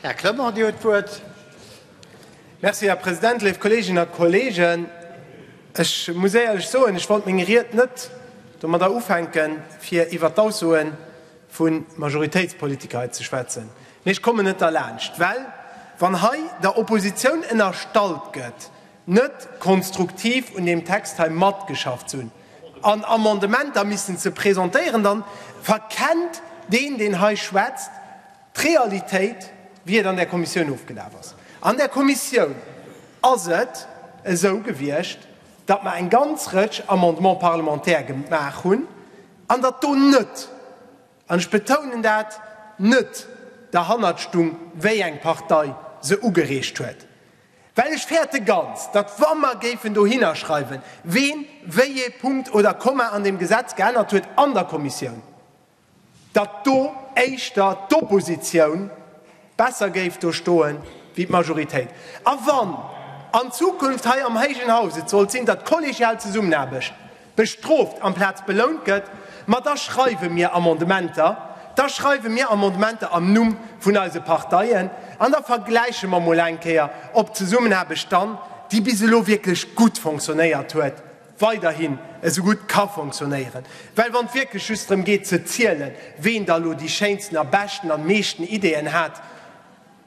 Här Clement, Dir huet d'Wuert. Merci, Här President. Léif Kolleeginnen a Kolleegen, ech muss éierlech soen, ech wollt meng Ried net domadder ufänken, fir iwwert d'Aussoe vu Majoritéitspolitiker hei ze schwätzen. Mee ech kommen net derlaanscht, well wann hei der Oppositioun ënnerstallt gëtt, net konstruktiv un deem Text hei matgeschafft ze hunn an Amendementer missen ze presentéieren, da verkennt deen, deen hei schwätzt, d'Realitéit, wéi et an där Kommissioun ofgelaf ass. An där Kommissioun ass et esou gewiescht, datt mer eng ganz Rëtsch Amendements parlementaires gemaach hunn an datt do net, an ech betounen dat, net derhannert stung, wéi eng Partei se ugereecht huet, Well ech fäerte ganz, datt wa mer géifen dohinner schreiwen, ween wéi ee Punkt oder Komma an deem Gesetz geännert huet an der Kommissioun, datt do éischter d'Oppositioun besser géif do stoen wéi d'Majoritéit. A wann an Zukunft hei am héijen Haus et sollt sinn, datt kollegial Zesummenaarbecht, bestrooft amplaz belount gëtt, ma da schreiwe mir Amendementer, da schreiwe mir Amendementer am Numm vun eise Parteien an da vergläiche mer mol eng Kéier, ob d'Zesummenaarbecht dann, déi bis elo wierklech gutt fonctionnéiert huet, weiderhin esou gutt ka fonctionnéieren. Well wann et wierklech just drëm geet ze zielen, ween da elo déi schéinsten a beschten an meeschten Ideeën hat,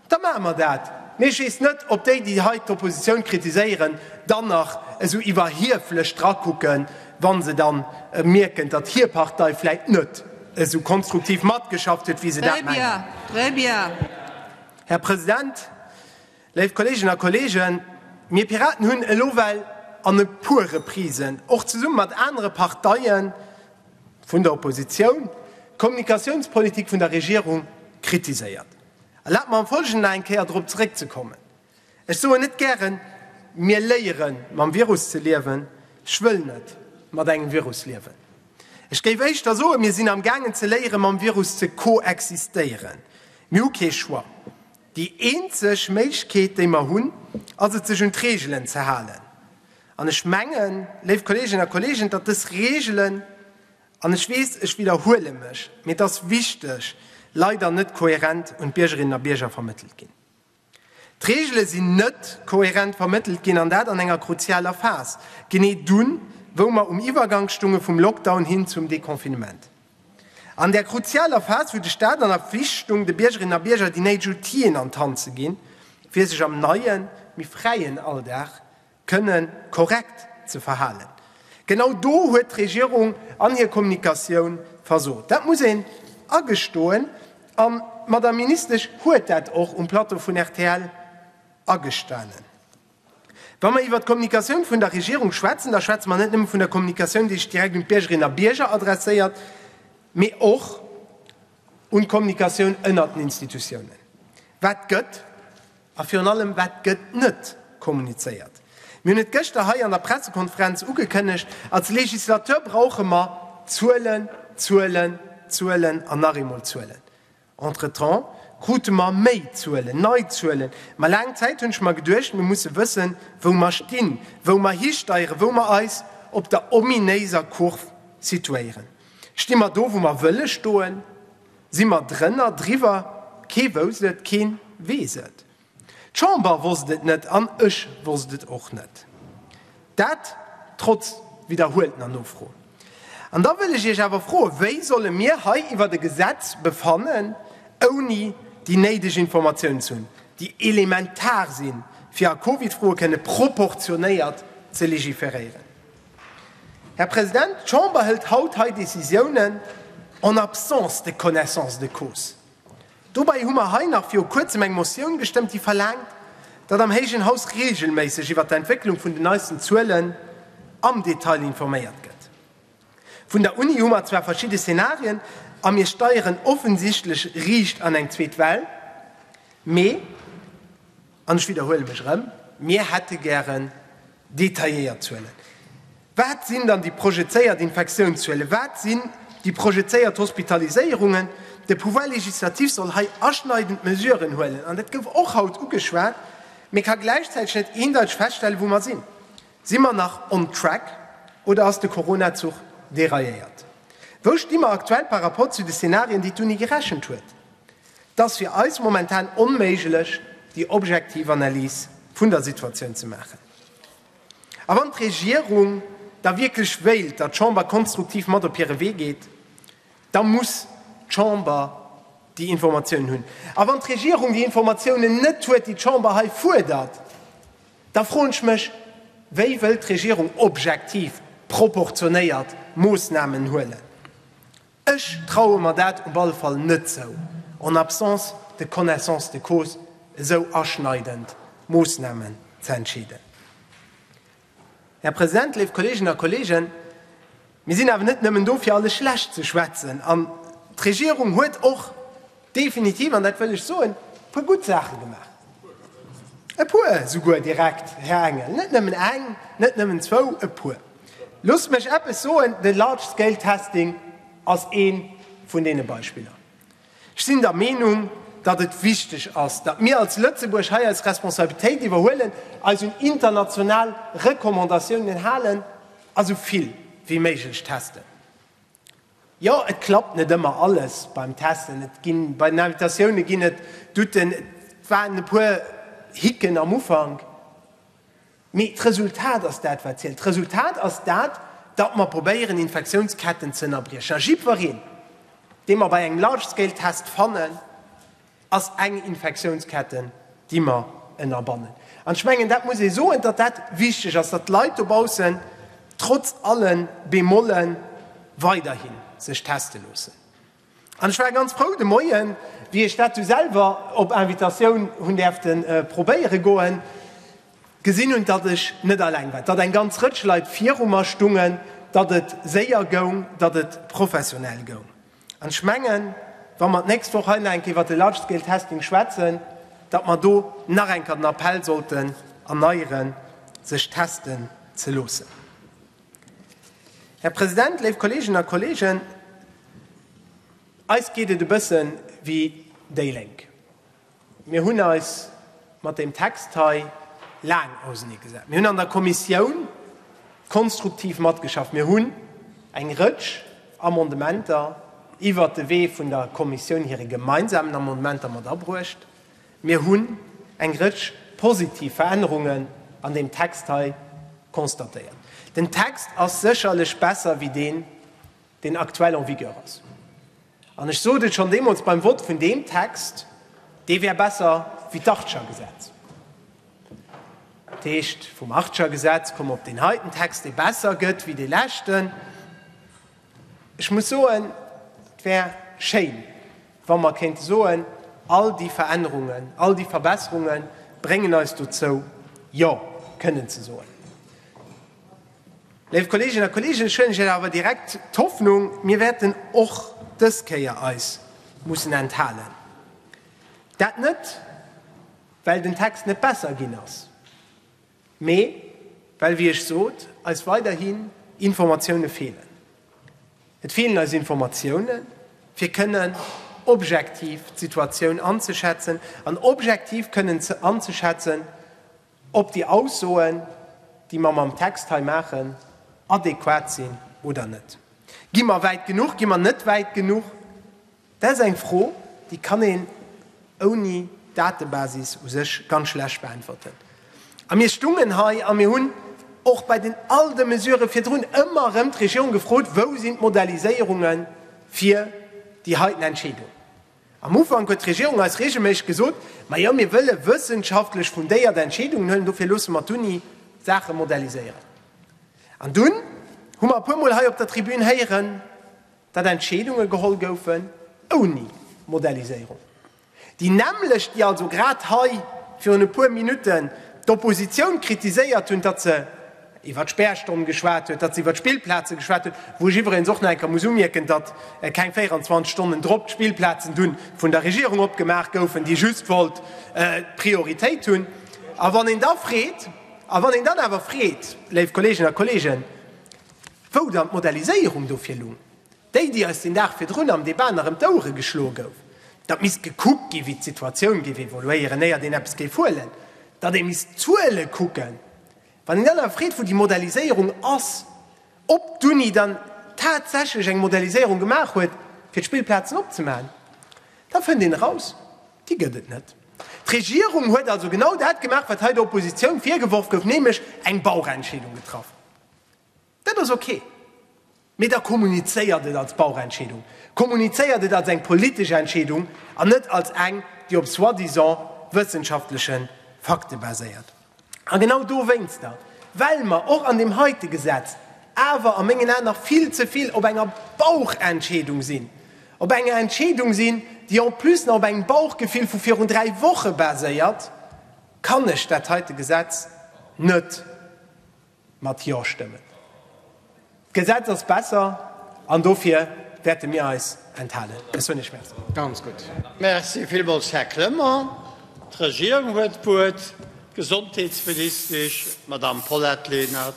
Da maache mer dat. Mee ech weess net, ob déi, déi hei d'Oppositioun kritiséieren, dann nach esou iwwerhieflech drakucken, wa se da mierken, datt hir Partei vläicht net esou konstruktiv matgeschafft huet, wéi se dat mengen. Här President, léif Kolleeginnen a Kolleegen, mir Piraten hunn elo well an e puer Reprisen, och zesumme mat anere Parteie vun der Oppositioun, d'Kommunikatiounspolitik vun der Regierung kritiséiert. Erlaabt mer am Folgenden nach eng Kéier dorop zeréckzekommen. Ech soen net gären, mir léieren mam Virus ze liewen. Ech wëll net mat engem Virus liewen. Ech géif éischter soen, mir sinn am gaangen ze léieren mam Virus ze koexistéieren. Mir hu kee Choix. Déi eenzeg Méiglechkeet déi mer hunn, ass et sech un d'Reegelen ze halen. An ech mengen, léif Kolleeginnen a Kolleegen, datt dës Reegelen, An ech weess, ech widderhuele mech, mee et ass wichteg, leider net kohärent un d'Biergerinnen a Bierger vermëttelt ginn. D'Reegele sinn net kohärent vermëttelt ginn, an dat an enger kruzialer Phas, genee dunn, wou mer um Iwwergank stunge vum Lockdown hin zum Deconfinement. An där kruzialer Phas, wou de Stat an der Pflicht stung, de Biergerinnen a Bierger déi néideg Outill'en an d'Hand ze ginn, fir sech am neien, méi fräien Alldag kënnen korrekt ze verhalen. Genau do huet d'Regierung an hir Kommunikatioun versot. Dat muss een agestoen. An d'Madame Ministesch huet dat och um Plateau vun rtl agestanen. Wa mer iwwert d'Kommunikatioun vun der Regierung schwätzen, da schwätze mer net nëmme vun der Kommunikatioun, déi sech direkt un d'Biergerinnen a Bierger adresséiert, mee och un d'Kommunikatioun ënnert den Institutiounen. Wat gëtt A virun allem, wat gëtt net kommunizéiert? Mir hunn et gëschter hei an der Pressekonferenz ugekënnegt, als Legislateur brauche mer Zuelen, Zuelen, Zuelen an nach eemol Zuelen. Entretemps krute mer méi Zuelen, nei Zuelen. Ma laang Zäit hunn ech mer geduecht, mir musse wëssen, wou mer stinn, wou mer histeieren, wou mer eis op der ominéiser Kurv situéieren. Sti mer do, wou mer wëlle stoen? Si mer drënner, driwwer, kee wousst et, keen weess et. D'Chamber wosst et net an ech wosst et och net. Dat trotz widderhueltener Nofro. An da wëll ech Iech awer froen, Wéi solle mir hei iwwert e Gesetz befannen, ouni déi néideg Informatiounen ze hunn, déi elementar si fir a Covid-Froe kënne proportionéiert ze legiferéieren? Här President, d'Chamber hëlt haut hei Décisiounen en absence de connaissance de cause. Dobäi hu mer hei nach viru Kuerzem eng Motioun gestëmmt, déi verlaangt, datt am héijen Haus reegelméisseg iwwert d'Entwécklung vun den neisten Zuelen am Detail informéiert gëtt. Vun der Uni hu mer zwar verschidde Szenarien a mir steieren offensichtlech riicht an eng zweet Well, mee, An ech widderhuele mech erëm, Mir hätte gären detailléiert Zuelen. Wat sinn dann déi projezéiert Infektiounszuelen? Wat sinn déi projezéiert Hospitaliséierungen? De Pouvoir législatif soll hei aschneidend Mesuren huelen, an dat gouf och haut ugeschwat, mee ka gläichzäiteg net eendeiteg feststellen, wou mer sinn. Si mer nach on track oder ass de Corona-Zuch dérailléiert? Wou sti mer aktuell par rapport zu de Szenarien, déi d'Uni gerechent huet? 't ass fir eis momentan onméiglech, déi objektiv Analys vun der Situatioun ze maachen. A wann d'Regierung da wierklech wéilt, datt d'Chamber konstruktiv mat op hire Wee geet, da muss d'Chamber déi Informatiounen hunn. A wann d'Regierung déi Informatiounen net huet, déi d'Chamber hei fuerdert, da froen ech mech, Wéi wëllt d'Regierung objektiv proportionéiert Moossnamen huelen? Ech traue mer dat op alle Fall net zou, en absence de connaissance de cause esou aschneidend Moosnamen ze entscheeden. Här President, léif Kolleeginnen a Kolleegen, mir sinn awer net nëmmen do, fir alles schlecht ze schwätzen, an d'Regierung huet och definitiv, an dat wëll ech soen, e puer gutt Saache gemaach, e puer esouguer direkt, Här Engel, net nëmmen eng, net nëmmen zwou, e puer. Loosst mech eppes soen, de Large-Scale-Testing ass ee vun deene Beispiller. Ech sinn der Meenung, datt et wichteg ass, datt mir als Lëtzebuerg hei eis Responsabilitéit iwwerhuelen, eis un international Recommandatiounen halen a sou vill wéi méiglech testen. Jo, et klappt net ëmmer alles beim Testen. Et ginn bei den Invitatioune ginn et Douten, et waren e puer Hicken am Ufank. Mee d'Resultat ass dat, wat zielt. D'Resultat ass dat, datt mer probéieren, Infektiounsketten ze ënnerbriechen. A jiddwereen, dee mer bei engem Large-Scale-Test fannen, ass eng Infektiounsketten, déi mer ënnerbannen. An ech mengen, dat muss ee soen, datt dat wichteg ass, datt d'Leit dobaussen trotz alle Bemolle weiderhi sech teste loossen. An ech war ganz frou de Moien, wéi ech dat du selwer op Invitatioun hunn däerfte probéiere goen, gesinn hunn, datt ech net alleng war, datt eng ganz Rëtsch Leit viru mer stungen, datt et séier goung, datt et professionell goung. An ech mengen, wa mer d'nächst Woch hei nach eng Kéier iwwert de Large-Scale-Testing schwätzen, datt mer do nach eng Kéier den Appell sollten erneieren, sech testen ze loossen. Här President, léif Kolleeginnen a Kolleegen, eis geet et e bësse wéi déi Lénk. Mir hunn eis mat deem Text hei laang auseneegesat. Mir hunn an der Kommissioun konstruktiv matgeschafft. Mir hunn eng Rëtsch Amendementer iwwert de Wee vun der Kommissioun hire gemeinsamen Amendementer mat abruecht. Mir hunn eng Rëtsch positiv Verännerungen an deem Text hei constatéiert. Den Text ass sécherlech besser wéi deen, deen aktuell en vigueur ass, an ech sot et schonn deemools beim Vott vun deem Text, dee wär besser wéi d'Archer Gesetz. Dat heescht, vum Archer Gesetz komme mer op deen heiten Text, dee besser gëtt wéi dee leschten. Ech muss soen, et wär schéin, wa mer kéinte soen, all déi Verännerungen, all déi Verbesserunge bréngen eis dozou, Jo kënnen ze soen. Léif Kolleeginnen a Kolleegen, ech huelen Iech awer direkt d'Hoffnung, mir wäerten och dës Kéier eis mussen enthalen. Dat net, well den Text net besser ginn ass, mee well, wéi ech sot, eis weiderhin Informatioune feelen. Et feelen eis Informatioune fir kënnen objektiv d'Situatioun anzeschätzen an objektiv kënnen anzeschätzen, ob déi Aussoen, déi mer mam Text hei maachen, adequat sinn oder net. Gi mer wäit genuch, gi mer net wäit genuch? Dat ass eng Fro, déi kann een ouni Datebasis u sech ganz schlecht beäntwerten. A mir stungen hei a mir hunn och bei den all de Mesurë virdrun ëmmer erëm d'Regierung gefrot, Wou sinn d'Modelliséierunge fir déi heiten Entscheedung? Am Ufank huet d'Regierung eis reegelméisseg gesot, Ma jo, mir wëlle wëssenschaftlech fundéiert Entscheedungen hëllen, dofir loosse mer d'Uni Saache modelliséieren. An dunn hu mer e puer Mol hei op der Tribün héieren, datt Entscheedunge geholl goufen ouni Modelliséierung, déi nämmlecht, déi also grad hei virun e puer Minutten d'Oppositioun kritiséiert hunn, datt se, iwwer d'Spärstonn geschwat huet, datt se iwwer d'Spillplaze geschwat huet, wou ech iwweregens och nach eng Kéier muss umierken, datt keng 24 Stonnen drop d'Spillplazen du vun der Regierung opgemaach goufen, déi just wollt d'Prioritéit hunn. A wann een da freet, a wann een dann awer freet, léif Kolleeginnen a Kolleegen, wou dann d'Moderniséierung dofir lung, déi, déi eis den Dag virdrun am Debat nach ëm d'Ouere geschloe gouf, datt misst gekuckt gi wéi d'Situatioun géif evoluéieren, éiert een eppes géif huelen, datt ee misst d'Zuele kucken, Wann een dann awer freet, wou déi Modelliséierung ass, ob d'Uni dann tatsächlech eng Modelliséierung gemaach huet, fir d'Spillplazen opzemaachen, da fënnt een eraus, Déi gëtt et net. D'Regierung huet also genau dat gemaach, wat hei der Oppositioun virgeworf gouf, nämlech eng Bauchentscheedung getraff. Dat ass ok. Mee da kommunizéiert et als Bauchentscheedung, kommunizéiert et als eng politesch Entscheedung an net als eng, déi op soi-disant wëssenschaftleche Fakte baséiert. A genau dowéinster, well mer och an deem heite Gesetz awer a mengen Aen nach vill ze vill op enger Bauchentscheedung sinn, op enger Entscheedung sinn, déi en plus nach op engem Bauchgefill vu virun dräi Woche baséiert, kann ech dat heite Gesetz net, Mat Jo stëmmen. D'Gesetz ass besser an dofir wäerte mir eis enthalen. Ech soen Iech Merci. Ganz gutt. Merci villmools, Här Clement. D'Regierung huet d'Wuert, d'Gesondheetsministesch, d'Madamm Paulette Lenert.